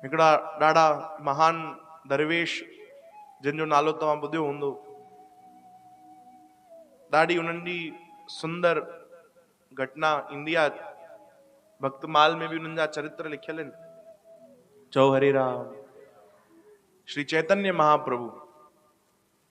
هڪڙا ڏاڍا مهان درويش جن جو نالو توهان ٻڌيو هوندو. ڏاڍي انهن جي سندر گهٽنا ايندي آ. ڀڪتمال ۾ به انهن جا چرتر لکيل آهن. چئو هري رام. شري چيتنيه مهاپرڀو.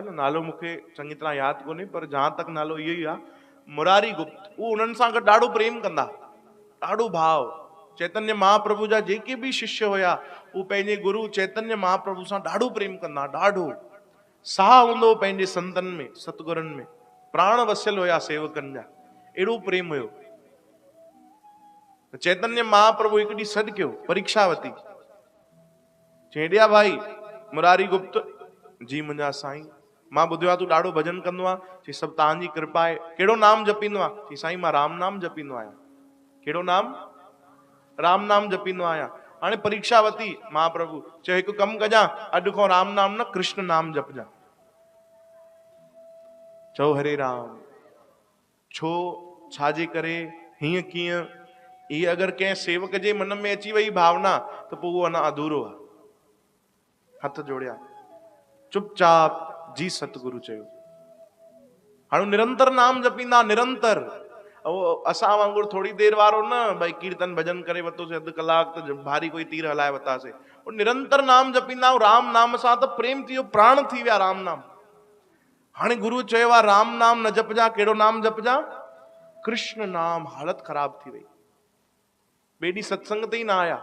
ان نالو مون کي چڱي طرح ياد ڪونهي پر جهان تڪ نالو اهو ئي آ مراري گپت هو انهن سان گڏ ڏاڍو پريم ڪندا ڏاڍو ڀاء چيتنيا مهاپرڀو جا جيڪي به ششيه هيا اهو پنهنجي گرو چيتنيا مهاپرڀو سان ڏاڍو پريم ڪندا ڏاڍو ساهه هوندو هو پنهنجي سنتن ۾ ستگرن ۾ پراڻ وسيل هيا سيوڪن جا اهڙو پريم هيو چيتنيا مهاپرڀو هڪ ڏينهن سڏ ڪيو پريڪشاوتي چيڙيا ڀائي، مراري گپت، جي منهنجا سائين، مان ٻڌيو آهي تون ڏاڍو ڀڄن ڪندو آهين. چيس سڀ توهان جي ڪرپا آهي. ڪهڙو نام جپيندو آهين؟ چيس سائين مان رام نام جپيندو آهيان. ڪهڙو نام؟ رام نام جپيندو آهيان. هاڻي پريڪشا وتي، مهاپرڀو چيو هڪ ڪم ڪجان، اڄ کان رام نام نه ڪرشن نام جپجان. چئو هري رام. ڇو؟ ڇا جي ڪري؟ هيئن ڪيئن؟ هيء اگر ڪنهن سيوڪ جي من ۾ اچي ويئي ڀاونا ته پوء اهو اڃا اڌورو آهي. هٿ جوڙيا، چپ چاپ جي ستگرو چيو. هاڻي نرنتر نام جپيندا، نرنتر. اهو اسان وانگر ٿوري دير وارو نه، ڀئي ڪيرتن ڀڄن ڪري ورتوسين اڌ ڪلاڪ ته ڀاري ڪوئي تير هلائي ورتاسين. اهو نرنتر نام جپيندا، رام نام سان ته پريم ٿي ويو، پراڻ ٿي ويا رام نام. هاڻي گروء چيو آ رام نام نه جپجان ڪهڙو نام جپجان ڪرشن نام حالت خراب ٿي وئي ٻئي ڏينهن ستسنگ تي ئي نه آيا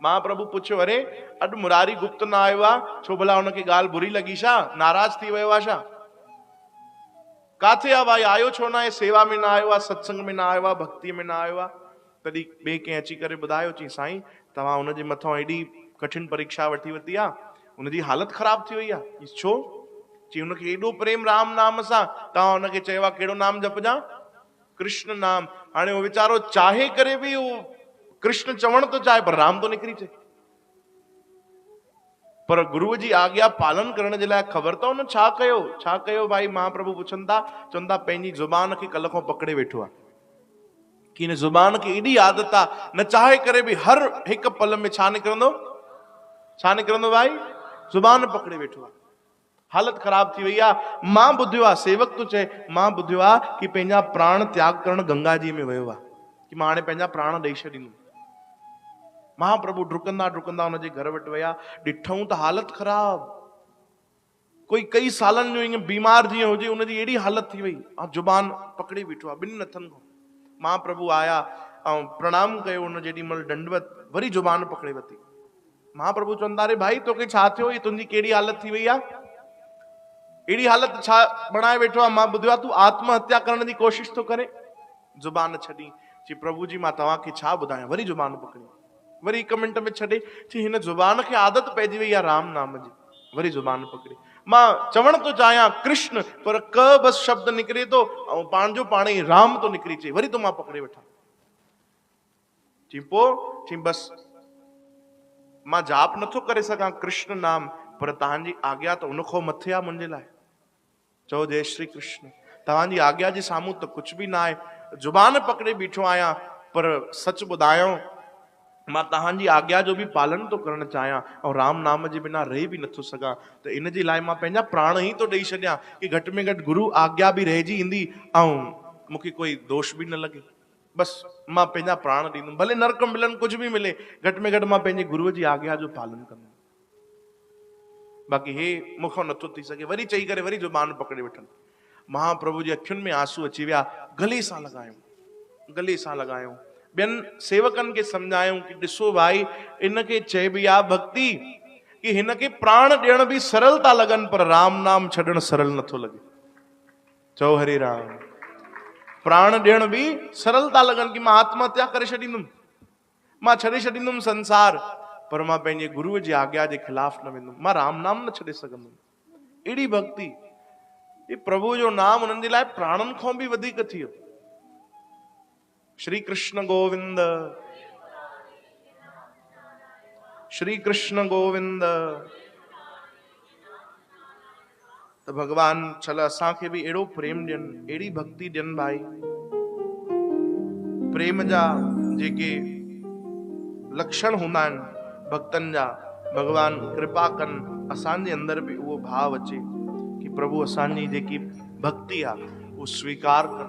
مها پرڀو پڇيو اري اڄ مراري گپت نه آيو آ ڇو ڀلا هن کي ڳالهه بري لڳي ڇا ناراض ٿي ويو آ ڇا ڪاٿي آ ڀائي آيو ڇو نه آهي سيوا ۾ نه آيو آ ستسنگ ۾ نه آيو آ ڀڪتي ۾ نه آيو آ تڏهن ٻئي ڪنهن اچي ڪري ٻڌايو چيائين سائين توهان هن جي مٿان ايڏي ڪٺن پريڪشا وٺي ورتي آ هن جي حالت خراب ٿي وئي آ چيس ڇو؟ چيائين هن کي ايڏو پريم رام نام سان توهان هن کي چيو آ ڪهڙو نام جپجان ڪرشن نام هاڻي اهو ويچارو چاهي ڪري به اهو ڪرشن چوڻ ٿو چاهي پر رام ٿو نڪري چئي پر گروء جي آگيا پالن ڪرڻ جي لاء خبر ته هن ڇا ڪيو ڇا ڪيو ڀائي مهاپرڀو پڇن ٿا چون ٿا پنهنجي زبان کي ڪل کان پڪڙي ويٺو آ. کين زبان کي ايڏي عادت آ نه چاهي ڪري به هر هڪ پل ۾ ڇا نڪرندو ڇا نڪرندو ڀائي زبان پڪڙي ويٺو آ حالت خراب ٿي وئي آ مان ٻڌيو آ سيوڪ تو چئي مان ٻڌيو آ ڪي پنهنجا پراڻ تياگ ڪرڻ گنگا جي ۾ ويو آ ڪي مان هاڻي پنهنجا پراڻ ڏئي ڇڏيندم مهاپرڀو ڊڪندا ڊڪندا ان جي گهر وٽ ويا ڏٺئون ته حالت خراب ڪوئي ڪئي سالن جو ايئن بيمار جيئن هجي ان جي اهڙي حالت ٿي وئي ۽ زبان پڪڙي بيٺو آهي ٻنهن هٿن کان مها پرڀو آيا ۽ پرڻام ڪيو هن جيڏي مهل ڏنڊوت وري زبان پڪڙي وتي مها پرڀو چون ٿا اري ڀائي توکي ڇا ٿيو هي تنهنجي ڪهڙي حالت ٿي وئي آهي اهڙي حالت ڇا بڻائي ويٺو آهي مان ٻڌو آهي تون آتم هتيا ڪرڻ جي ڪوشش ٿو ڪرين زبان ڇڏي چي پرڀو جي مان توهان کي ڇا ٻڌايان وري زبان پڪڙي وري هڪ منٽ ۾ ڇڏي چي هن زبان کي عادت پئجي وئي آهي رام نام جي وري زبان پڪڙي مان چوڻ ٿو چاهيان ڪرشن پر ڪه بس شبد نڪري ٿو ۽ پاڻ جو پاڻ ئي رام ٿو نڪري چي وري ٿو مان پڪڙي وٺان چي پو چي بس مان جاپ نٿو ڪري سگهان ڪرشن نام پر تهان جي آگيا ته ان کان مٿي آ منهنجي لاء چئو جئي شري ڪرشن توهان جي آگيا جي سامهون ته ڪجهه به ناهي زبان پڪڙي بيٺو آهيان پر سچ ٻڌايانو مان توهان جي آگيا جو به پالن ٿو ڪرڻ چاهيان ۽ رام نام جي بنا رهي به نٿو سگهان ته ان جي لاء مان پنهنجا پراڻ ئي ٿو ڏئي ڇڏيان ڪي گهٽ ۾ گهٽ گرو آگيا به رهجي ايندي ۽ مون کي ڪوئي دوش به نه لڳي بس مان پنهنجا پراڻ ڏيندم ڀلي نرڪ ملن ڪجهه به ملي گهٽ ۾ گهٽ مان پنهنجي گرو جي آگيا جو پالن ڪندم باقي هي مون کان نٿو ٿي سگهي. وري چئي ڪري وري زبان پڪڙي ويٺن. مهاپرڀو جي اکين ۾ آنسو اچي ويا. گلي سان لڳايون. گلي سان لڳايون. ٻين سيوڪن کي سمجهايون ڪي ڏسو ڀائي ان کي چئبي آ ڀڳتي ڪي هن کي پراڻ ڏيڻ به سرل ٿا لڳن پر رام نام ڇڏڻ سرل نٿو لڳي. چئو هري رام. پراڻ ڏيڻ به سرل ٿا لڳن ڪي مان آتم هتيا ڪري ڇڏيندم. مان ڇڏي ڇڏيندم سنسار، پر مان پنهنجي گروء جي آگيا جي خلاف نه ويندم. مان رام نام نه ڇڏي سگهندم. اهڙي ڀڳتي، جي پرڀوء جو نام هنن جي لاء پراڻن کان به وڌيڪ ٿيو. شري ڪرشن گووند، شري ڪرشن گووند. ته ڀڳوان ڇل اسان کي به اهڙو پريم ڏين اهڙي ڀڳتي ڏين ڀائي پريم جا جيڪي لکشڻ هوندا آهن ڀڳتن جا ڀڳوان ڪرپا ڪن اسان جي اندر به اهو ڀاو اچي ڪي پرڀو اسان جي جيڪي ڀڳتي آهي اهو سويڪار ڪن.